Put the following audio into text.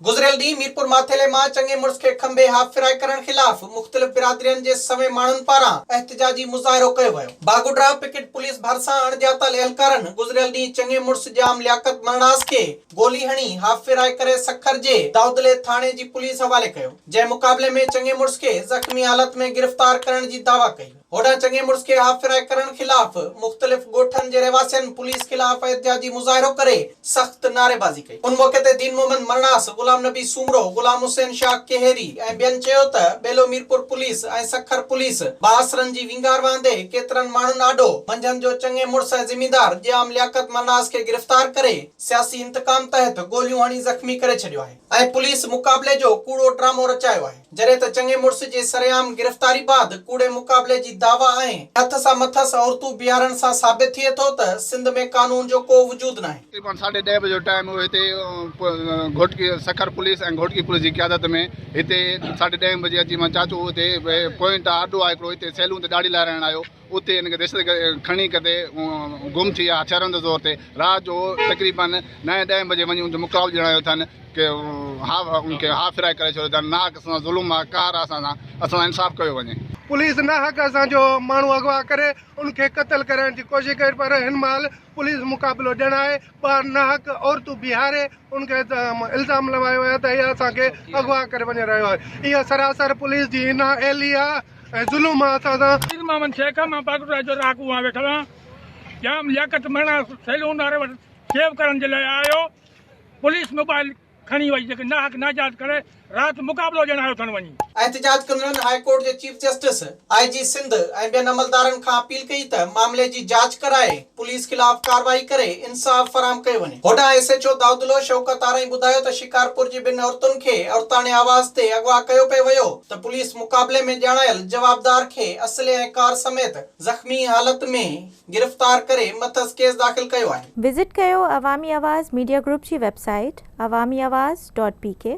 گذريل ڏينهن ميرپور ماٿيلي مان چڱي مڙس کي کنڀي هاف فرائي ڪرڻ خلاف مختلف برادرين جي سوين ماڻهن پاران احتجاجي مظاهرو ڪيو ويو. باگوڏرا پڪيٽ پوليس ڀرسان اڻڄاتل اهلڪارن گذريل ڏينهن چڱي مڙس ڄام لياقت مرڻاس کي گولي هڻي هاف فرائي ڪري سکر جي دائودلي ٿاڻي جي پوليس حوالي ڪيو جنهن مقابلي ۾ چڱي مڙس کي زخمي حالت ۾ گرفتار ڪرڻ جي دعويٰ ڪئي. هوڏانهن چڱي مڙس کي اها ڦرائي ڪرڻ خلاف مختلف ڳوٺن جي رهواسين پوليس خلاف احتجاجي مظاهرو ڪري سخت نعريبازي ڪئي. ان موقعي تي دين محمد مرڻاس، غلام نبي سومرو، غلام حسين شاهه ڪيهري ۽ ٻين چيو ته ٻيلو ميرپور پوليس ۽ سکر پوليس بااثرن جي وينگار وهندي ڪيترن ماڻهن آڏو منجهند جو چڱي مڙس ۽ زميندار ڄام لياقت مرڻاس کي گرفتار ڪري سياسي انتقام تحت گوليون هڻي زخمي ڪري ڇڏيو آهي ۽ پوليس مقابلي جو ڪوڙو ڊرامو رچايو آهي. جڏهن ته چڱي مڙس جي سرعام گرفتاري بعد ڪوڙي مقابلي جي دعويٰ ۽ هٿ سان مٿس عورتون بيهارڻ سان ثابت ٿئي ٿو ته سنڌ ۾ قانون جو ڪو وجود ناهي. تقريبن ساڍي ڏهه بجي جو ٽائيم هو هتي گهوٽڪي سکر پوليس ۽ گهوٽڪي پوليس جي قيادت ۾ هتي ساڍي ڏهين بجي اچي مان چاچو هتي پوئنٽ آهي اڏو آهي هڪڙو هتي سيلون تي ڏاڙهي لارائڻ آيو، اتي هن کي دهشتگرد کڻي ڪتي گم ٿي ويا هٿيارن جي زور تي رات جو تقريبن نائين ڏهين بجي وڃي ان جو مقابلو ڄڻايو اٿن ڪي هاء ان کي هاء ڦرائي ڪري ڇڏيو اٿن ناحق اسان سان ظلم آ قهر آ اسان سان اسان سان انصاف ڪيو وڃي. پوليس ناحق اسان جو ماڻهو اغوا ڪري ان کي قتل ڪرڻ جي ڪوشش ڪئي پر هن مهل پوليس مقابلو ڄاڻائي ٻاهر ناحق عورتون بيهاري ان کي الزام لوايو ويو ته هي اسان کي اغوا ڪري وڃي رهيو آهي اها سراسر پوليس جي نااهلي آهي ۽ ظلم آهي اسان سان. پير محمد شيخ، مان باقر راء جو رهاڪو هان ويٺل آهيان. ڄام لياقت مهڻا سيلون واري وٽ شيو ڪرڻ جي لاء آيو هو. پوليس موبائل کڻي وئي جيڪي ناحق ناجائز ڪري رات مقابلو ڏيڻ آيو ٿن وڃي. احتجاج ڪندڙن هاء ڪورٽ جي chief justice, I G Sindh ۽ ٻين عملدارن کان اپيل ڪئي ته معاملي جي جاچ ڪرائي پوليس خلاف ڪارروائي ڪري انصاف فراهم ڪيو وڃي. هوڏانهن ايس ايڇ او دائودلوء شوڪت آرائين ٻڌايو ته شڪارپور جي ٻن عورتن کي عورتاڻي آواز تي اغوا ڪيو پئي ويو ته پوليس مقابلي ۾ ڄاڻايل جوابدار کي اسلحي ۽ ڪار سميت زخمي حالت ۾ گرفتار ڪري مٿس ڪيس داخل ڪيو آهي. وزٽ ڪيو عوامي آواز ميڊيا گروپ جي website Awami Awaz dot P ڪي.